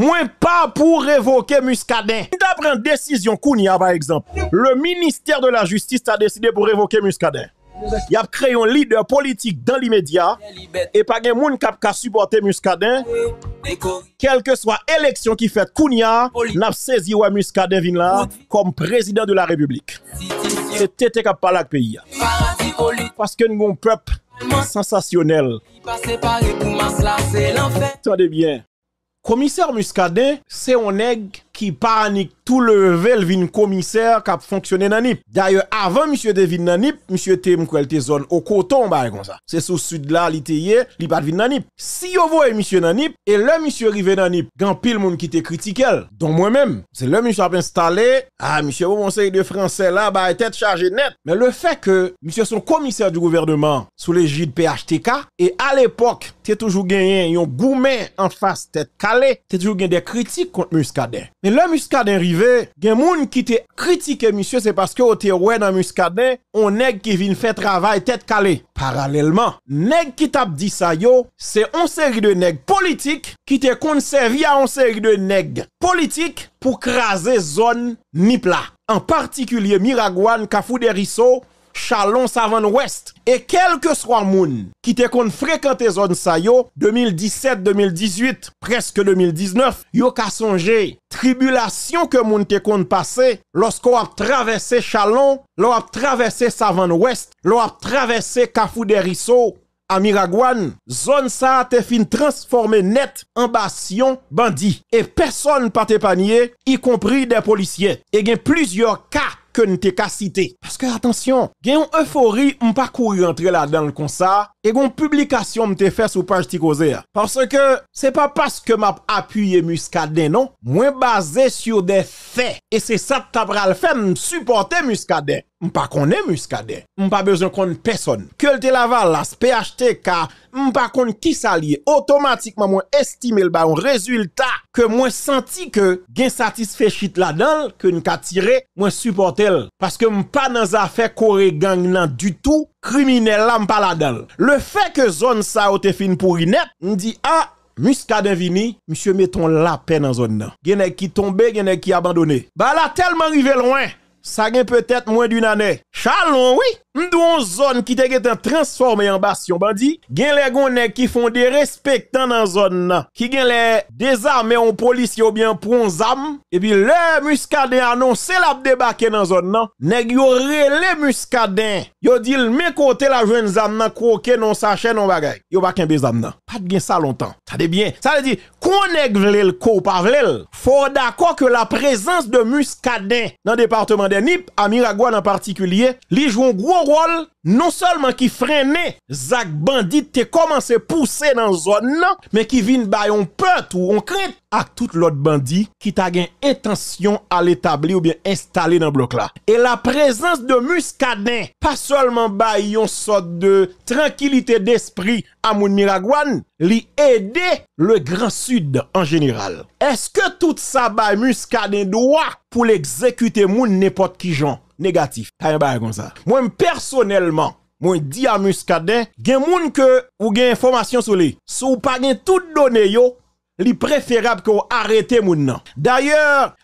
Mwen pa pou revoke Muscadin. M ta pran desizyon kounya pa egzanp le ministère de la justice ta deside pou revoke Muscadin. Yap kreye yon lidè politik dan limedya e pa gen moun kap ka sipòte Muscadin kèlkeswa eleksyon ki fèt kounya nap sezi wè Muscadin vin la kòm prezidan de la repiblik. Se tete kap pale ak peyi a. Paske n gen yon pèp sansasyonèl. Tande byen. Komisè Muscadin se yon nèg ki pa annik tou leve l vin komisè k ap fonksyone nan Nip. Dayè avan misye te vin nan Nip, misye te m kwè l te zòn Okoto yon bagay konsa. Se sou Sid la li te ye, li pa t vin nan Nip. Si yo voye misye nan Nip e lè misye rive nan Nip gen anpil moun ki te kritike l, don mwen menm. Se lè misye ap enstale, a misye bon yon seri de franse la, bagay tèt chaje nèt. Men le fè ke misye se yon komisè di gouvèneman sou lejid phtk e alepòk, Te toujou genyen yon goumen anfas Tèt Kale. Te toujou gen de kritik kont Muscadin. Men lè Muscadin rive, gen moun ki te kritike misye se paske yo te wè nan Muscadin yon nèg ki vin fè travay Tèt Kale. Paralèlman, nèg ki t ap di sa yo, se yon seri de nèg politik ki te konn sèvi a yon seri de nèg politik pou kraze zòn Nip la, an patikilye Miragwàn, Kafou Deriso, Chalon Savann West e kèlkeswa moun ki te konn frekante zòn sa yo 2017, 2018, prèske 2019, yo ka sonje tribilasyon ke moun te konn pase lòske w ap travèse Chalon, lè w ap travèse Savann West, lè w ap travèse Kafou Dèriso a Miragwàn, zòn sa a te fin transfòme nèt an basyon bandi e pèsòn pa t epanye, ikonpri dè polisyè e gen plizyè ka ke n te ka site. Paske atansyon, gen yon efori m pa kouri rantre ladan l konsa e gen yon piblikasyon m te fè sou paj Ti Koze a. Paske se pa paske m ap apiye Muscadin non, mwen baze sur des faits e se sa k ta pral fè m sipòte Muscadin. M pa konnen Muscadin. M pa bezwen konn pèsòn. Ke l te Lavalas, phtk, m pa konn kisa l ye. Otomatikman mwen estime l ba yon rezilta ke mwen santi ke gen satisfechit ladan l ke n ka tire. Mwen sipòte l. Paske m pa nan zafè kore gang nan ditou. Kriminèl la m pa ladan l. Le fè ke zòn sa yo te fin pouri nèt, m di a, Muscadin vini, misye mete yon lapè nan zòn nan. Gen nèg ki tonbe, gen nèg ki abandone. Bala tèlman rive lwen, Sa gen petèt mwen d'un anè. Chalon wi! M di w yon zòn ki te gentan transfòme an basyon bandi, genlè gon nèg ki fè yon derespektan nan zòn nan, ki genlè dezame yon polisye oubyen l pran yon zam, epi lè Muscadin anonse l ap debake nan zòn nan, nèg yo rele Muscadin, yo di l men kote l ap jwenn zam nan, kwoke nan yon sachè, nan yon bagay. Yo pa kenbe zam nan. Pa t gen sa lontan. Tande byen! Sa vle di, Kon nèg vle l ko w pa vle l, fò w dakò ke la prezans de Muscadin nan departeman dè Nip, a Miragoâne an patikilye, li jwe yon gwo wòl, non sèlman ki frennen zak bandit te kòmanse pouse nan zòn nan, men ki vin bay yon pè tou, yon krent, ak tout lòt bandi ki ta gen entansyon al etabli oubyen enstale nan blòk la. E la prezans de Muscadin pa sèlman bay yon sòt de trankilite despri a moun Miragwàn, li ede le gran Sid an jeneral. Eske tout sa bay Muscadin dwa pou l egzekite moun nenpòt ki jan? Negatif. Pa gen bagay konsa. Mwen menm pèsonèlman, mwen di a Muscadin, gen moun ke ou gen enfòmasyon sou li, si w pa gen tout done yo, Li preferab ke w arete moun nan. Dayè,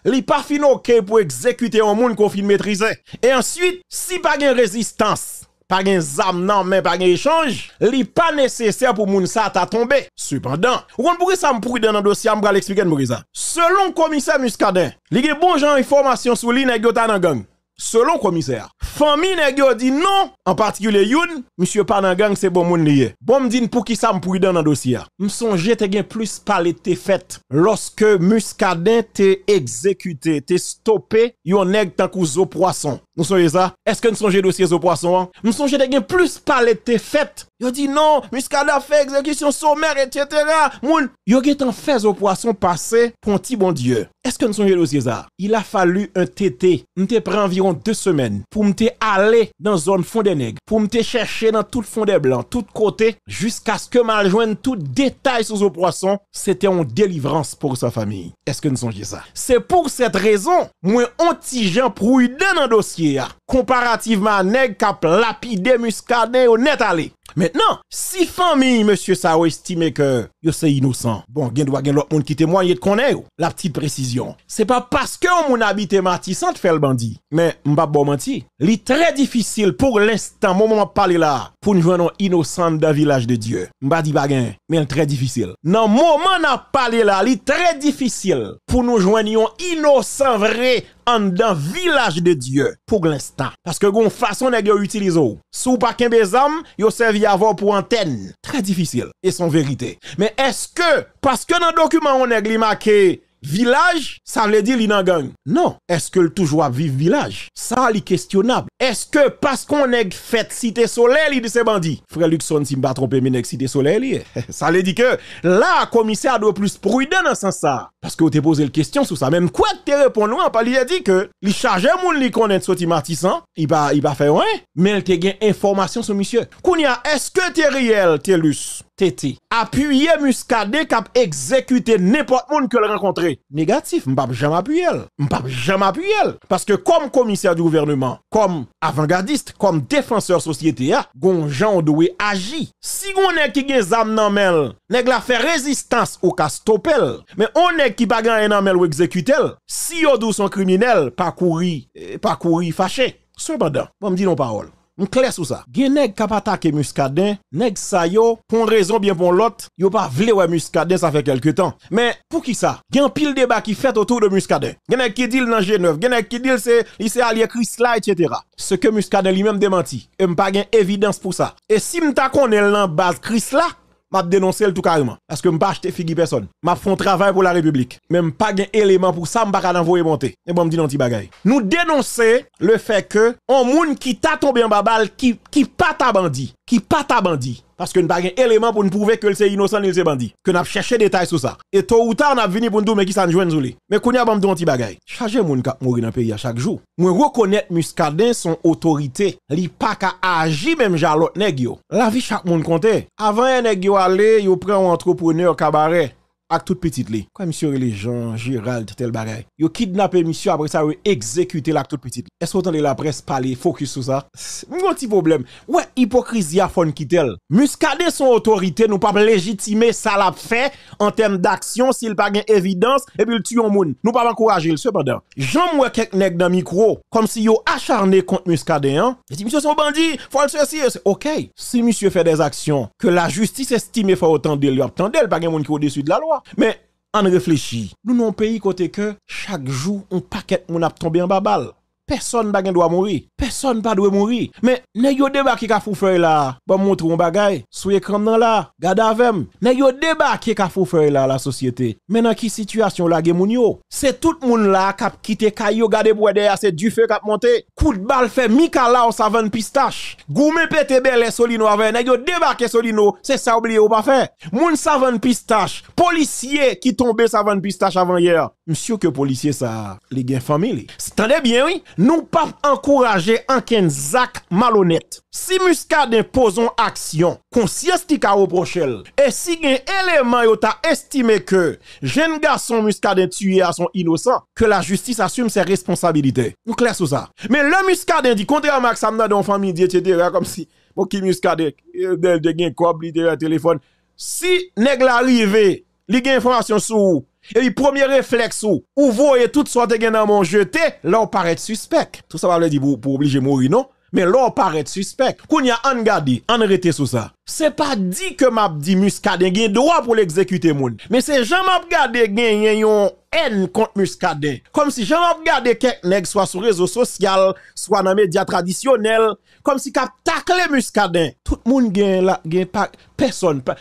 li pa fin ok pou egzekite yon moun ke w fin metrize. E answit, si pa gen rezistans, pa gen zam nan men, pa gen echanj, li pa nesesè pou moun sa ta tonbe. Sepandan, ou konn poukisa m prudan nan dosye a, m pral eksplike n poukisa. Selon Komisè Muscadin, li gen bon jan enfòmasyon sou li nèg yo ta nan gang. selon komisè a. Fanmi nèg yo di non, an patikilye youn, misye pa nan gang se bon moun li ye. Bon m di n poukisa m pridan nan dosye a. M sonje te gen plis pale k te fèt lòske Muscadin te egzekite, te stope yon nèg tankou Zo Pwason. Nou sonje sa? Eske n sonje dosye Zo Pwason an? M sonje te gen plis pale k te fèt. Yo di non, Muscadin ap fè egzekisyon somè, etsetera. Moun. Yo gen tan fè Zo Pwason pase pou yon ti bondye. Eske n sonje dosye sa a? Il a fallu un TT. M te pran anviwon 2 semèn pou m te ale nan zòn Fondènèg, pou m te chèche nan tout Fondèblan, tout kote, jiskaske m al jwenn tout detay sou Zo Pwason. Se te yon delivrans pou sa fanmiy. Eske n sonje sa? Se pou sèt rezon mwen yon ti jan prudan nan dosye a, konparativman a nèg k ap lapide Muscadin yo nèt ale. Mentnan, si fanmiy mesye sa yo estime ke yo se inosan, bon, gen dwa gen lòt moun ki temwanye t konnen yo. La ptit presizyon, se pa paske yon moun abite Matisan t fè l bandi. Men, m pap ba w manti, li trè difisil pou lenstan, moman m ap pale la a, pou n jwenn yon inosan anndan Vilaj de Dye. M pa di pa gen, men l trè difisil. Nan moman n ap pale la a, li trè difisil pou nou jwenn yon inosan vre anndan vilaj de Dye pouglenstan paske gon fason nèg yo itilize w si w pa kenbe zam yo sèvi avè w pou antèn trè difisil e son verite men èske paske nan dokiman yon nèg li make vilaj sa vle di li nan gang non èske l toujou ap viv vilaj sa li kesyonab èske paske yon nèg fèt site solèy li di se bandi frè Luckson si m pa twonpe m e nèg site solèy li ye sa vle di ke la komisè a dwe plis pridan nan sans sa. Paske yo te poze l kestyon sou sa men m kwè k te reponn wi anpil li te di ke li chaje moun li konnen t soti matisan li pa li pa fè yo anyen men l te gen enfòmasyon sou misye kounye a eske Theriel Thelus TT apiye Muscadin k ap egzekite nenpòt moun ke l rankontre? Negatif m pap janm apiye l m pap janm apiye l paske kòm komisè di gouvèneman kòm avangadist kòm defansè sosyete a gon jan w dwe aji si gon nèg ki gen zam nan men l Nèg la fè rezistans ou ka stopel men on nèg ki pa gen anyen nan menl ou ekzekitel si yo diw son kriminèl pa kouri pa kouri fache sepandan banm di nou pawòl m klè sou sa gen nèg kap atake Muscadin nèg sa yo pou on rezon byen pou on lòt yo pa vle wè Muscadin sa fè kèlke tan men poukisa gen anpil deba ki fèt otou de Muscadin gen nèg ki dil nan Genève gen nèg ki dil se li se alye Krisla etc seke Muscadin li menm demanti em pa gen evidans pou sa e sim ta konnenl nan baz Krisla Map denonse l tou kareman. Paske m pa achte figi pèsòn. Map fè yon travay pou la repiblik. Men m pa gen eleman pou sa m pa ka nan voye monte. Men bon m di nou yon ti bagay. Nou denonse le fè ke yon moun ki ta tonbe anba bal ki pa ta bandi. Ki pa ta bandi. Paske n pa gen eleman pou n pwouve ke l se inosan ni l se bandi. Ke nap chèche detay sou sa. E to ou ta nap vini pou n di w men kisa n jwenn sou li. Men kounye a banm di w yon ti bagay. Chaje moun kap mouri nan peyi a chak jou. Mwen rekonèt Muscadin son otorite, li pa ka aji menm jan a lòt nèg yo. Lavi chak moun konte. Avan yè nèg yo ale, yo pran yon antreprenè kabarè ak tout pitit li. Kwè misye rele Jean Gerald tèl bagay. Yo kidnape misye apre sa yo egzekite l ak tout pitit li. Èske w tande laprès pale fokis sou sa? M gen yon ti pwoblèm. Wè ipokrizi a fò n kite l. Muscadin son otorite, nou p ap lejitime sa l ap fè an tèm daksyon si l pa gen evidans epi l tiye yon moun. Nou pap ankouraje l sepandan. Jan m wè kèk nèg nan mikwo kòmsi yo acharne kont Muscadin an, yo di misye se yon bandi, fò l sesi e se. Ok, si misye fè dè zaksyon ke lajistis estime fò yo tande l, yo ap tande l, pa gen moun ki odesi de lalwa. Men, ann reflechi. Nou nan yon peyi kote ke chak jou yon pakèt moun ap tonbe anba bal. Pèsòn pa gen dwa mouri. Pèsòn pa dwe mouri. Men, nèg yo debake Kafoufèy la a. Ban m montre w yon bagay, sou ekran m nan la a. Gade avè m. Nèg yo debake Kafoufèy la a, lasosyete. Men nan ki sitiyasyon yo lage moun yo. Se tout moun la a k ap kite kay yo, gade pou wè dèyè a se dife k ap monte. Kout bal fè Mikalaw, Savann Pistach. Goumen pete Bèlè, Solino avè. Nèg yo debake Solino, se sa w bliye ou pa fè. Moun Savann Pistach. Polisye ki tonbe Savann Pistach avan yè a. M sur ke polisye sa li gen fanmi li. Tande byen wi, nou pap ankouraje ankenn zak malonèt. Si Muscadin poze yon aksyon, konsyans li ka repwoche l. E si gen eleman yo ta estime ke jenn gason Muscadin tiye a son inosan, ke lajistis assume ses responsabilités. Nou klè sou sa. Men lè Muscadin di kontrèman ak sa m tande yon fanmi di etsetera, kòmsi bon ki Muscadin, dèyè l te gen kòb, li te gen telefòn. Si nèg la rive li gen enfòmasyon sou ou, epi premye reflèks ou, ou voye tout sa w te gen nan men w jete, lè w parèt sispèk. Tout sa pa vle di pou w oblije mouri non, men lè w parèt sispèk. Kounye a, ann gade, ann rete sou sa. Se pa di ke m ap di Muscadin gen dwa pou l egzekite moun, men se jan m ap gade genyen yon èn kont Muscadin, kòmsi jan m ap gade kèk nèg swa sou rezo sosyal, swa nan medya tradisyonèl, Komsi kap takle Muscadin. Tout moun gen la gen pa pèsòn pa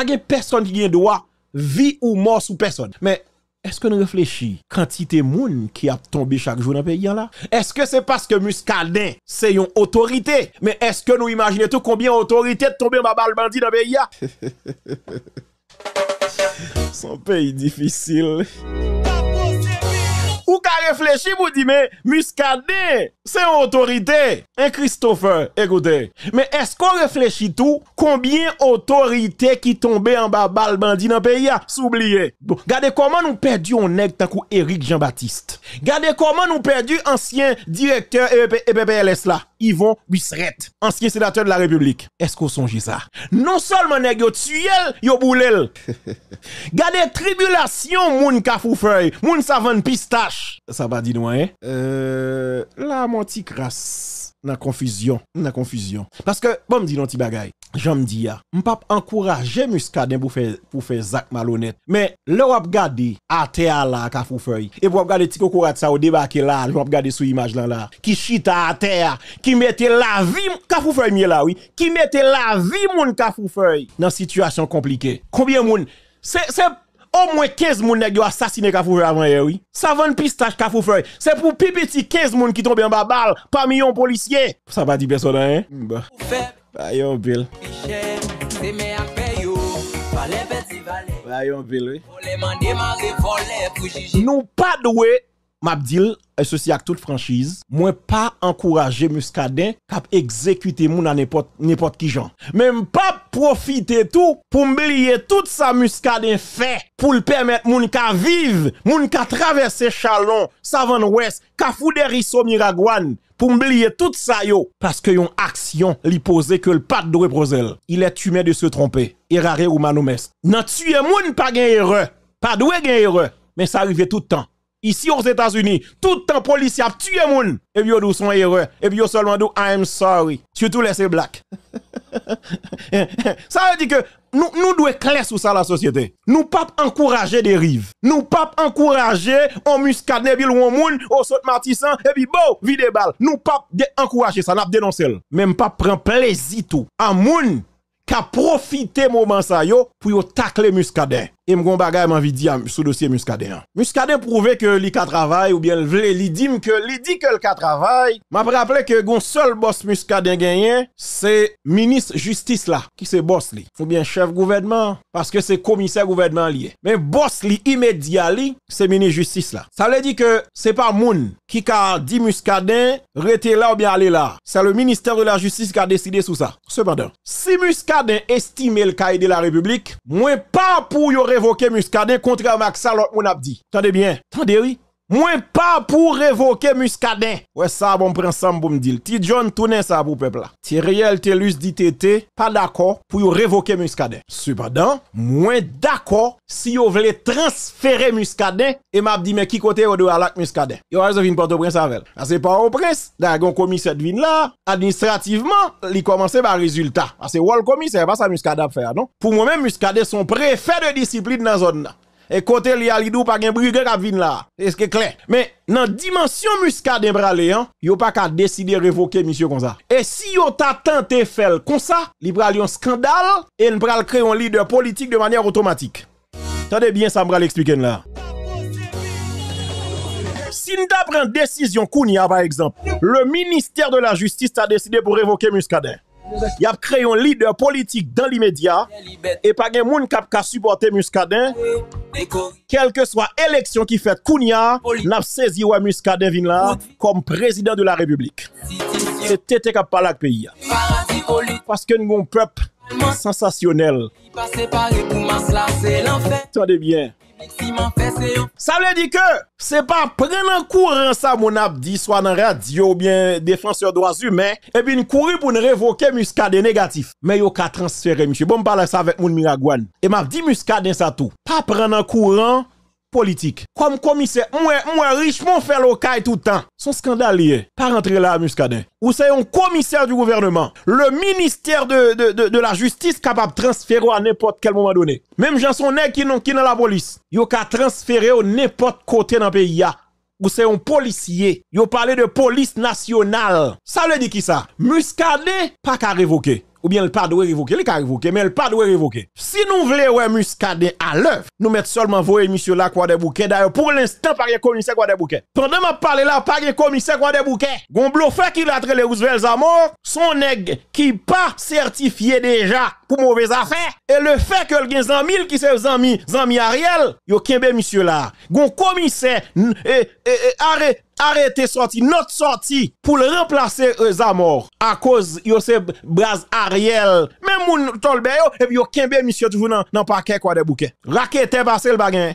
gen pèsòn ki gen dwa vi ou mò sou pèsòn men eske nou reflechi kantite moun ki ap tonbe chak jou nan peyi an la eske se paske Muscadin se yon otorite men eske nou imajine tou konbyen otorite t tonbe anba bal bandi nan peyi a. Son peyi difisil wi. Ou ka reflechi pou di men Muscadin se yon otorite hein Christopher ekoute men eske ou reflechi tou konbyen otorite ki tonbe anba bal bandi nan peyi a si w bliye gade koman nou pèdi yon nèg tankou Eric Jean Baptiste gade koman nou pèdi ansyen direktè epp pls la Yvon Buissereth ansyen senatè de la République. Eske w sonje sa? Non sèlman nèg yo tiye l, yo boule l. Gade tribilasyon moun Kafoufèy, moun Savann Pistach! Sa pa di nou anyen? Lamò yon ti kras nan konfizyon, nan konfizyon. Paske, banm di nou yon ti bagay. Jan m di a, m pa p ankouraje Muscadin pou fè, pou fè zak malonèt. Men, lè w ap gade atè a la a Kafoufèy, epi w ap gade ti kokorat sa yo debake la a, jan w ap gade sou imaj lan la a, ki chita atè a, ki mete lavi kafoufèy m ye la wi ki mete lavi moun kafoufèy nan sitiyasyon konplike konbyen moun se se omwen 15 moun nèg yo asasine kafoufèy avan yè wi savann pistach kafoufèy se pou pi piti 15 moun ki tonbe anba bal pami yon polisye sa pa di pèsòn anyen ba yo anpil ba yo anpil wi nou pa dwe M ap di l sesi ak tout franchiz, mwen pa ankouraje Muscadin k ap egzekite moun a nenpòt nenpòt ki jan. Men m p ap pwofite tou pou m bliye tout sa Muscadin fè pou l pèmèt moun ka viv, moun ka travèse Chalon, Savann Wès, Kafou Deriso, Miragwàn, pou m bliye tout sa yo paske yon aksyon li poze ke l pa t dwe poze l. Il est humain de se tromper, errare humanum est. Nan tiye moun pa gen erè, pa dwe gen erè, men sa rive tout tan. Isi ozetazini tout tan polisye ap tiye moun epi yo di w son erè epi yo sèlman di w I am sorry sitou lè se black sa vle di ke nou dwe klè sou sa la sosyete nou pap ankouraje deriv nou pap ankouraje on Muscadin epi l wè on moun ou sot matisan epi bow vide bal nou pap ankouraje sa nap denonse l men m pap pran plezi tou a moun ka pwofite moman sa yo pou yo takle Muscadin. E m gen yon bagay m anvi di a sou dosye Muscadin an. Muscadin pwouve ke li ka travay oubyen l vle li di m ke li di ke l ka travay. M ap raple ke gen yon sèl bòs Muscadin genyen se minis jistis la ki se bòs li oubyen chèf gouvènman an paske se komisè gouvènman an li ye. Men bòs li imedya li se minis jistis la. Sa vle di ke se pa moun ki ka di Muscadin rete la oubyen ale la. Se le ministère de la justice ki ka deside sou sa. Sepandan, si Muscadin estime l ka ede la Repiblik, mwen pa pou yo revoke Muscadin kontrèman ak sa lòt moun ap di. Tande byen, tande wi! Mwen pa pou revoke Muscadin! Wè sa bon m pran san m pou m di l. Ti John tounen sa pou pèp la. Theriel Thelus di TT pa dakò pou yo revoke Muscadin. Sepandan, mwen dakò Si yo vle transfere Muscadin e map di men ki kote yo dwe al ak Muscadin. Yo pa bezwen vin Pòtoprens avèl. Pase Pòoprens, dayè gen yon komisè t vin la, administrativman li kòmanse bay rezilta. Pase wòl komisè e pa sa Muscadin ap fè a non. Pou mwen menm Muscadin son prefè de disiplin nan zòn nan. E kote li a li di w pa gen brigan kap vin la. Eske klè? Men Nan dimansyon Muscadin prale an, yo pa ka deside revoke misye konsa. E si yo ta tante fè l konsa, li pral yon skandal e n pral kreye yon lidè politik de manyè otomatik. Tande byen sa m pral eksplike n la. Si n ta pran desizyon kounye a, pa egzanp, le ministère de la justice ta deside pou revoke Muscadin. Y ap kreye yon lidè politik dan limedya e pa gen moun k ap ka sipòte Muscadin. Kèlkeswa eleksyon ki fèt kounye a, n ap sezi wè Muscadin vin la kòm prezidan de la Repiblik. Se tete k ap pale ak peyi a. Paske n gen yon pèp sansasyonèl. Tande byen! Sa vle di ke se pa pran nan kouran sa moun ap di swa nan radyo oubyen defansè dwa zimen epi n kouri pou n revoke Muscadin negatif men yo ka transfere misye bon m pale sa avèk moun Miragwàn e m ap di Muscadin sa tou pa pran nan kouran politik kòm komisè m wè m wè Richemond fè l okay toutan s on skandal li ye pa rantre la a Muscadin ou se yon komisè di gouvèneman le ministè de de la jistis kapab transfere w a nenpòt kèl moman done. Menm jan son nèg ki nan lapolis. Yo ka transferew nenpòt kote nan peyi a. Ou se yon polisye. Yo pale de polis nasyonal. Sa vle di kisa? Muscadin pa ka revoke. Oubyen li pa dwe revoke. Li ka revoke men li pa dwe revoke. Si nou vle wè Muscadin a lèv. Nou mèt sèlman voye misye la kwadèboukè. Dayè pou lenstan pa gen komisè kwadèboukè. Pandan map pale la pa gen komisè kwadèboukè. Gon blofè ki la t rele Rousvèl Zamò. Son nèg ki pa sètifye deja. pou move zafè e le fè ke l gen zanmi l ki se zanmi zanmi Ariel yo kenbe misye la gon komisè arete sòti nòt sòti pou l ranplase Zamor akoz yo se braz Ariel menm moun tòlbè yo epi yo kenbe misye toujou nan pakè kwadèboukè raketè pase l pa gen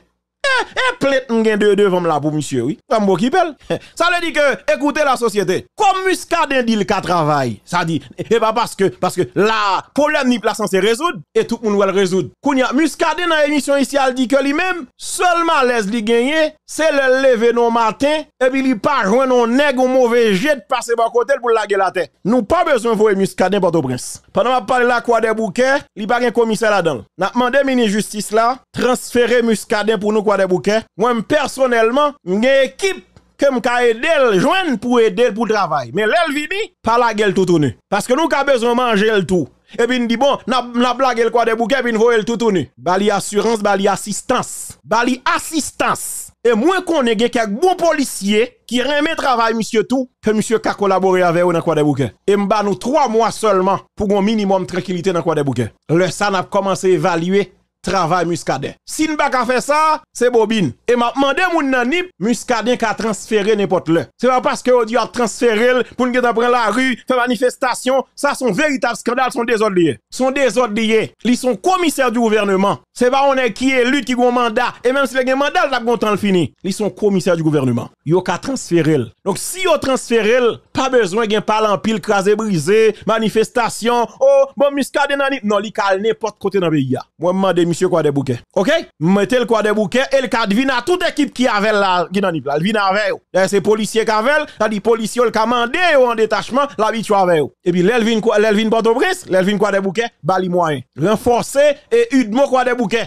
E e plent m gen de devanm la pou misye wi banm pokipel sa vle di ke ekoute la sosyete. Kom Muscadin dil ka travay sa di epa paske paske la pwoblèm nip la sanse rezoud e tout moun wèl rezoud kounya Muscadin nan emisyon isi al di ke li menm sèl malèz li genyen se lèl leve nan maten epi li pa jwenn yon nèg yon move je t pase bò kotel poul lagel atè. Nou pa bezwen voye Muscadin Pòtoprens. Pandan map pale la Kwadèboukè li pa gen komisè ladan l. Nap mande minis jistis la transfere Muscadin pou nou Kwadèboukè. Mwen m pèsonèlman m gen ekip ke m ka ede l jwenn pou ede l pou l travay. Men lè l vini pa lage l toutou nu. Paske nou ka bezwen manje l tou. Epi n di bon, n ap, n ap lage l kwadèboukè epi n voye l toutouni. Ba li asirans, ba li asistans. Ba li asistans. E mwen konnen gen kèk bon polisye ki renmen travay misye tou, ke misye ka kolabore avè yo nan kwadèboukè. E m ba nou 3 mwa sèlman pou gon minimòm trankilite nan kwadèboukè. Lè sa n ap kòmanse evalye travay Muscadin. Si n pa ka fè sa, se bobin. E m ap mande moun nan Nip, Muscadin ka transfere nenpòt lè. Se pa paske yo di yo ap transfere l pou n gentan pran lari, fè manifestasyon. Sa s on veritab skandal, s on dezòd li ye. S on dezòd li ye. Li s on komisè di gouvèneman. Se pa yon nèg ki eli, ki gen yon manda. E menm si li gen manda l, l t ap gen yon tan l fini. Li s on komisè di gouvèneman. Yo ka transfere l. Donk si yo transfere l, Pa bezwen gen pale anpil kraze brize, manifestasyon, oh bon Muscadin an li, non li ka al nenpòt kote nan peyi a. Mwen mande misye kwadèboukè. Ok! M mete l kwadèboukè e l ka vin a tout ekip ki avè l la ki nan Nip la, l vin avè yo. Dayè se polisye k avè l, sa di polisye yo l ka mande yo an detachman, l abitye avè yo. Epi lè l vin, lè l vin Pòtoprens, lè l vin kwadèboukè, ba li mwayen. Ranfòse e udmo kwadèboukè.